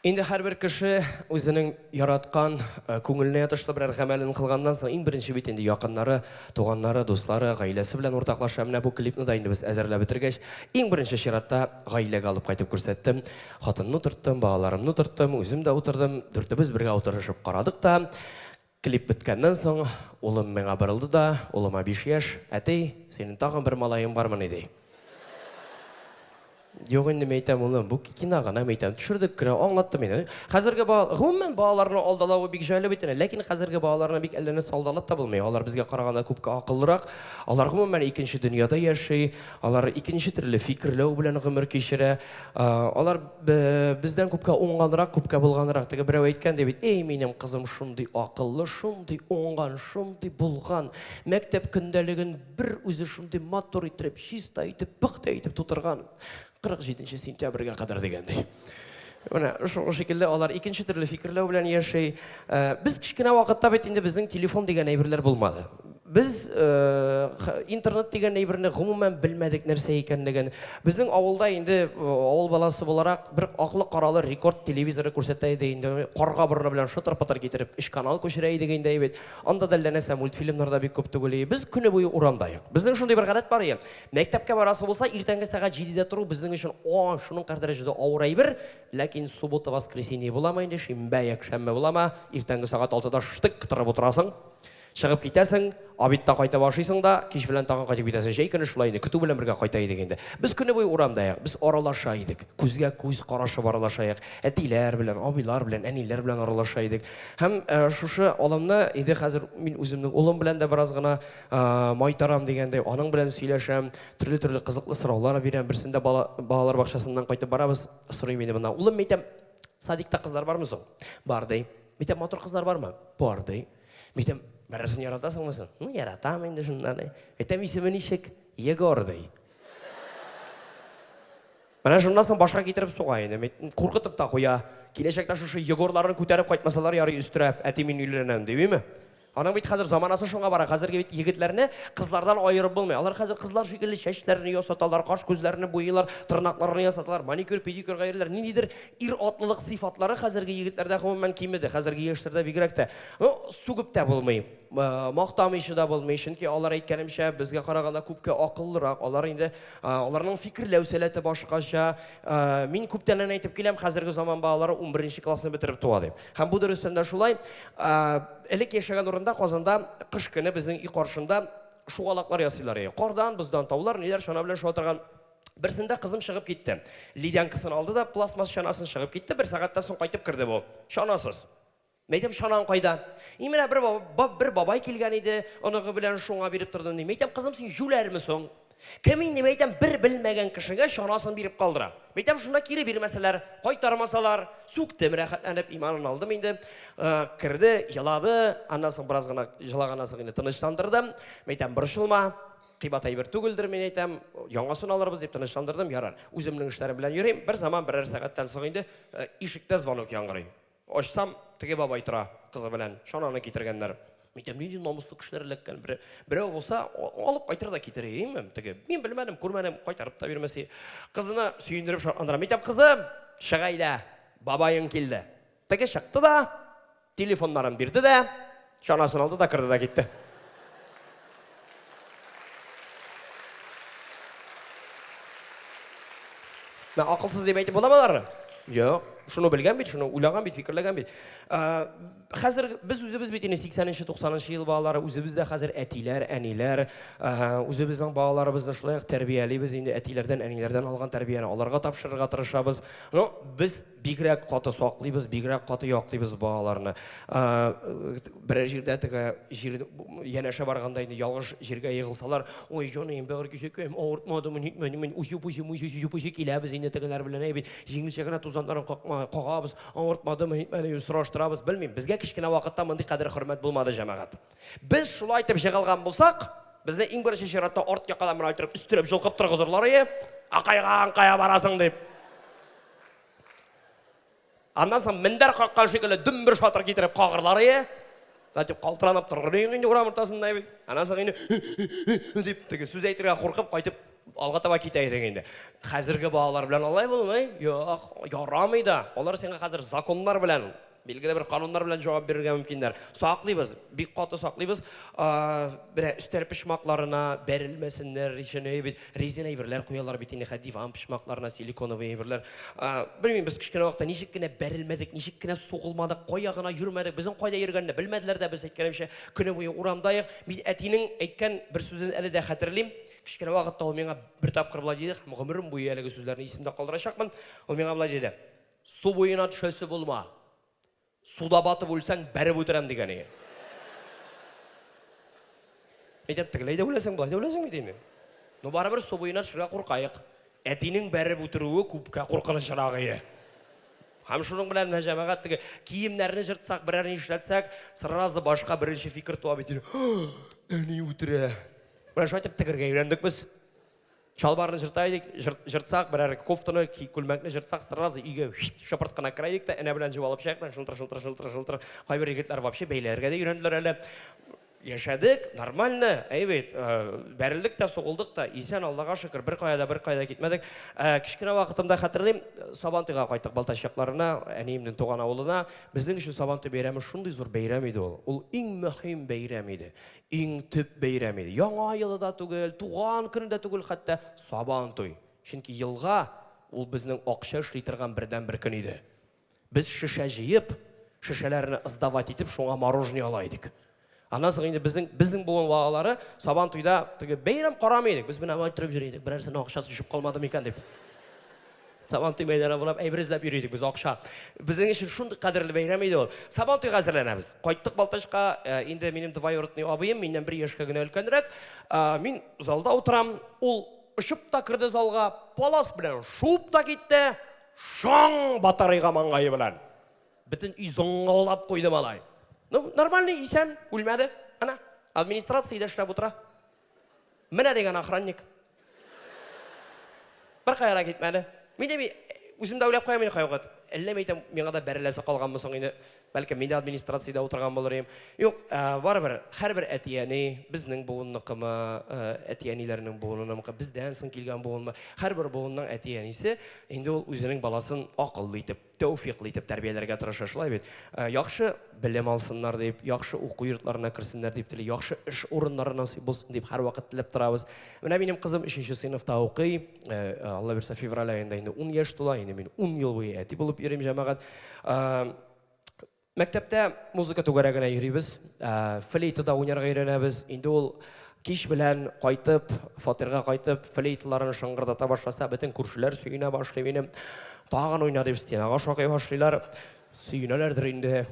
Инде һәрбер кеше үзенең яраткан, э, күңеленә ятышлы берәр гамәлен кылганнан соң, иң беренче бит инде якыннары, туганнары, дуслары, гаиләсе белән уртаклаша. Менә бу клипны да инде без әзерләп бетергәч, иң беренче чиратта гаиләгә алып кайтып күрсәттем. Хатынны утырттым, балаларымны утырттым, үзем дә утырдым. Дүртебез бергә утырышып карадык та, Клип беткәннән соң, улым миңа борылды да, улыма биш яшь, Әти, синең тагын бер малаең бармыни? ди. Юк инде, мин әйтәм, улым, бу кино гына, мин әйтәм, төшердек кенә, аңлаттым мин. Хәзерге ба... Гомумән, балаларны алдалавы бик җайлы бит инде, ләкин хәзерге балаларны бик әллә нәрсә алдалап та булмый. Алар безгә караганда күпкә акыллырак. Алар, гомумән, икенче дөньяда яши, алар икенче төрле фикерләү белән гомер кичерә. Алар бездән күпкә уңганрак, күпкә булганрак. Теге берәү әйткән ди бит, эй, минем кызым шундый акыллы, шундый уңган, шундый булган, мәктәп көндәлеген бер үзе шундый матур итеп, чиста итеп, пөхтә итеп тутырган. 47 сентябрьгә кадәр дигәндәй. Менә шул шикелле алар икенче төрле фикерләү белән яши. Без кечкенә вакытта бит инде безнең телефон дигән әйберләр булмады. Без интернет дигән әйберне гомумән белмәдек нәрсә икәнлеген. Безнең авылда инде авыл баласы буларак бер аклы-каралы рекорд телевизоры күрсәтә иде инде. Карга борыны белән шытыр-пытыр китереп өч канал күчерә идек инде әйбәт. Анда да әллә нәрсә мультфильмнар да бик күп түгел иде. Без көне буе урамда юк. Безнең шундый бер гадәт бар иде. Мәктәпкә барасы булса, иртәнге сәгать җидедә тору безнең өчен ан шуның кадәр дәрәҗәдә авыр әйбер. Ләкин суббота-воскресенье буламы инде, шимбә-якшәмбе буламы, иртәнге сәгать алтыда штык кытырып утырасың. Чыгып китәсең, обедта кайтып ашыйсың да, кич белән тагын кайтып китәсең. Җәй көне шулай иде, көтү белән бергә кайта идек инде. Без көне буе урамда як, без аралаша идек. Күзгә күз карашып аралаша як. Әтиләр белән, абыйлар белән, әниләр белән аралаша идек. Һәм шушы алымны инде хәзер мин үземнең улым белән дә бераз гына майтарам дигәндәй, аның белән сөйләшәм, төрле-төрле кызыклы сораулар бирәм. Берсендә бала, балалар бакчасыннан кайтып барабыз, сорый мине монда, Улым, мәйтәм, садикта кызлар бармы соң? Бар, ди. Мәйтәм, матур кызлар бармы? Бар, ди. Мин әйтәм, Бәрәсен яратасыңмы син? Ну, яратам инде шунда ди. Әйтәм, исеме ничек? Егор ди. Менә шуннан соң башка китереп суга инде. Куркытып та куя. Киләчәктә шушы Егорларын күтәреп кайтмасалар ярый өстерә, әти мин өйләнәм димиме? Аның бит хәзер заманасы шуңа бара. Хәзерге бит егетләрне кызлардан аерып булмый. Алар хәзер кызлар шикелле чәчләрен ясаталар, каш күзләрен буйлар, тырнакларын ясаталар, маникюр, педикюрга йөриләр. Ниндидер Ир-атлылык сыйфатлары хәзерге егетләрдә гомумән кимеде, хәзерге яшьләрдә бигрәк тә. Ну, сүгеп тә булмый, мактамыйча да булмый, чөнки алар, әйткәнемчә, безгә караганда күпкә акыллырак, алар инде, аларның фикерләү сәләте башкача. Мин күптәннән әйтеп киләм, хәзерге заман балалары унберенче классны бетереп туа дип. Һәм бу дөрестән дә шулай. Элек яшәгән урында, Казанда, кыш көне безнең өй каршында шугалаклар ясыйлар иде. Кардан, боздан таулар, ниләр чана белән шуа торган. Берсендә кызым чыгып китте. Ледянкасын алды да пластмасс чанасын чыгып китте. Бер сәгатьтән соң кайтып керде бу. Чанасыз. Мәйтәм чанаң кайда? И менә бер бабай, бер бабай килгән иде, оныгы белән шуңа биреп тордым ди. Мәйтәм кызым син җүләрме соң? Кем инде мәйтәм бер белмәгән кешегә чанасын биреп калдыра. Мәйтәм шунда кире бирмәсәләр, кайтармасалар, сүктем рәхәтләнеп, иманын алдым инде. Э, керде, елады, аннан соң бераз гына җылаганнан соң инде тынычландырдым. Мәйтәм борчылма, кыйбат әйбер түгелдер, мин әйтәм, яңасын алырбыз дип тынычландырдым, ярар. Үземнең эшләрем белән йөрим. Бер заман берәр сәгатьтән соң инде э, ишектә звонок яңгырый. Ачсам, теге бабай тора кызы белән, чананы китергәннәр. Мин әйтәм, нинди намуслы кешеләр эләккән. Берәү булса, алып кайтыр да китерер идем, теге. Мин белмәдем, күрмәдем, кайтарып та бирмәси. Кызына сөендереп шатландырам. Мин әйтәм, кызым, чыга иде, бабаең килде. Теге чыкты да, телефоннарын бирде дә, чанасын алды да керде да китте. Мә акылсыз дип әйтеп буламы аларны? Юк. Шуны белгән бит, шуны уйлаган бит, фикерләгән бит. Ә, хәзер без үзебез бит инде 80-нче, 90-нчы ел балалары, үзебез дә хәзер әтиләр, әниләр, ә, үзебезнең балаларыбызны шулай ук тәрбиялибез инде, әтиләрдән, әниләрдән алган тәрбияне аларга тапшырырга тырышабыз. Ну, без Бигрәк каты саклыйбыз, бигрәк каты яклыйбыз балаларны. Берәр җирдә теге җир янәшә барганда инде ялгыш җиргә егылсалар, ой, җаныем, бәгырь кисәкәем, авыртмадымы, нитмәдемени, үзе-үзе, үзе-үзе, үзе-үзе киләбез инде тегеләр белән, әйбит, җиңелчә генә тузаннарын какма, кагабыз, авыртмадымы, нитмәдеме дип сораштырабыз, белмим, безгә кечкенә вакытта мондый кадер-хөрмәт булмады, җәмәгать. Без шулай итеп җыгылган булсак, безне иң беренче чиратта арт якадан менә иттереп өстерәп җолкып торгызырлар, әйе, акайга, аңкая барасың дип. Аннан соң мендәр каккан шикелле дөмбер шатыр китереп кагырлар ие. Затем калтыранып торыр идең инде урам уртасында бит. Аннан соң инде дип теге сүз әйтергә куркып кайтып алга таба китә идең инде. Хәзерге балалар белән алай булмый. Юк, ярамый да. Алар сиңа хәзер законнар белән Билгеле бер кануннар белән җавап бирергә мөмкиннәр. Саклыйбыз, бик каты саклыйбыз. Менә өстәл почмакларына бәрелмәсеннәр, реченые бит, резина әйберләр куялар бит инде, диван почмакларына силиконовый әйберләр. Белмим, без кечкенә вакытта ничек кенә бәрелмәдек, ничек кенә сугылмадык, кая гына йөрмәдек, безнең кайда йөргәнне белмәделәр дә, без әйткәнемчә көне буе урамдайык. Мин әтинең әйткән бер сүзен әле дә хәтерлим. Кечкенә вакытта ул миңа бер тапкыр болай диде, гомерем буе әлеге сүзләрне исемдә калдырачакмын. Ул миңа болай диде. Су буена төшәсе булма. Суда батып үлсәң, бәреп үтерәм дигән ие. Әйтәм, тегеләй дә үләсең, болай да үләсең бит инде. Ну, барыбер су буена төшергә куркаек. Әтинең бәреп үтерүе күпкә куркынычрак ие. Һәм шуның белән менә җәмәгать теге киемнәрне җыртсак, берәр ни эшләтсәк, сразу башка беренче фикер туа бит инде. Әни үтерә. Менә шулай итеп тегергә өйрәндек без. Чалбарны җырта идек, җыртсак, берәр кофтаны, күлмәкне җыртсак, сразу өйгә шыпырт кына керә идек тә, энә белән җеп алып чыгыйк та, шылтыр, шылтыр, шылтыр, шылтыр. Кайбер егетләр вообще бәйләргә дә өйрәнделәр әле. Яшәдек, нормально, әйбәт, бәрелдек тә, сугылдык та, исән, Аллага шөкер, беркая да, беркая да китмәдек. Кечкенә вакытымда хәтерлим, Сабантуйга кайттык Балтач якларына, әниемнең туган авылына. Безнең өчен Сабантуй бәйрәме шундый зур бәйрәм иде ул. Ул иң мөһим бәйрәм иде. Иң төп бәйрәме, Яңа елы да түгел, туган көне дә түгел хәтта, Сабан туй. Чөнки елга, ул безнең акча эшли торган бердәнбер көн иде. Без шешә җыеп, шешәләрне сдавать итеп, шуңа мороженое ала идек. Аннан соң инде безнең, безнең буын балалары Сабан туйда теге бәйрәм карамый идек. Без менә алай торып йөри идек, берәрсенең акчасы төшеп калмады микән дип. Сабантуй мәйданы буйлап әйбер эзләп йөри идек без, акча. Безнең өчен шундый кадерле бәйрәм иде ул. Сабантуйга әзерләнәбез. Кайттык Балтачка, э, инде минем двоюродный абыем, миннән бер яшькә генә өлкәнрәк. Э, мин залда утырам, ул очып та керде залга, палас белән шуып та китте, шаң батарыйга маңгае белән. Бөтен өй зыңгылдап куйды малай. Ну, нормальный, исән, үлмәде. Әнә, администрациядә эшләп утыра. Менә дигән охранник. Бер кая да китмәде. Мин дә үзем дә уйлап куям инде кайвакыт. Әллә мәйтәм, миңа да бәреләсе калганмы соң инде? Бәлкем мин дә администрациядә утырган булыр идем. Юк, барыбер, һәрбер әти-әни, безнең буынныкымы, әти-әниләрнең буынынымыкы, бездән соң килгән буынмы, һәрбер буынның әти-әнисе инде ул үзенең баласын акыллы итеп тәүфыйклы итеп тәрбияләргә тырыша, шулай бит? Яхшы белем алсыннар дип, яхшы уку йортларына керсеннәр дип тели, яхшы эш урыннары насыйп булсын дип һәрвакыт теләп торабыз. Менә минем кызым өченче сыйныфта укый, Алла бирсә, февраль аенда инде ун яшь тула, инде мин ун ел буе әти булып йөрим, җәмәгать. Мәктәптә музыка түгәрәгенә йөрибез, флейтада уйнарга өйрәнәбез. Инде ул кич белән кайтып, фатирга кайтып, флейталарын шыңгырдата башласа, бөтен күршеләр сөенә башлый минем. Тагын уйна дип, стенага шакый башлыйлар. Сөенәләрдер инде.